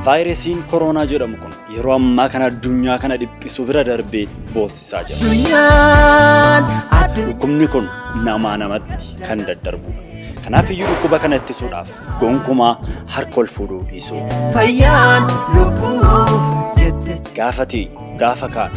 Vaayirasiin koroonaa jedhamu kun yeroo ammaa kana addunyaa kana dhiphisu bira darbee boossisaa jira. Addunyaan addu Dhukkubni kun namaa namatti kan daddarbudha. Kanaaf iyyuu dhukkuba kana ittisuudhaaf gonkumaa harka ol fuudhuu dhiisuu. fayyaan lubbuuf jette. Gaafa teenyu, gaafa kaanu,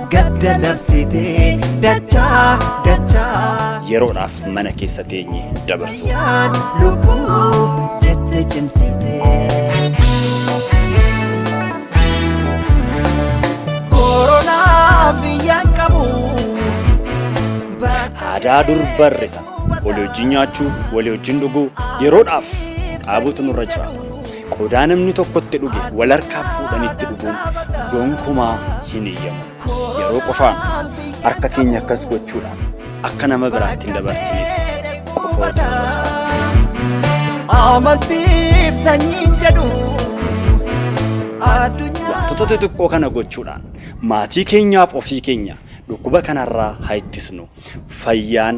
Gadda labsitee dachaa dachaa. Yeroodhaaf mana keessa teenye dabarsuu. Yaan lubbuuf jette cimsitee. Koronaa biyyaan qabu. Aadaa dur barre sana walii wajjin nyaachuu, walii wajjin dhuguu yeroodhaaf dhaabuutu nurra jiraata. Qodaa namni tokko itti dhuge wal harkaa fuudhanii itti dhuguun gonkumaa hin eeyyamu. Yeroo qofaa harka keenya akkas gochuudhaan akka nama biraatti hin dabarsineef qofa otoo Amantiif sanyiin jedhu addunyaa. Wantoota xixiqqoo kana gochuudhaan maatii keenyaaf ofii keenya dhukkuba kanarraa haa ittisnu. Fayyaan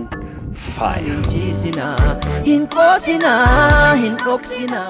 faaya. Hin ciisinaa, hin qoosinaa, hin dhoksinaa.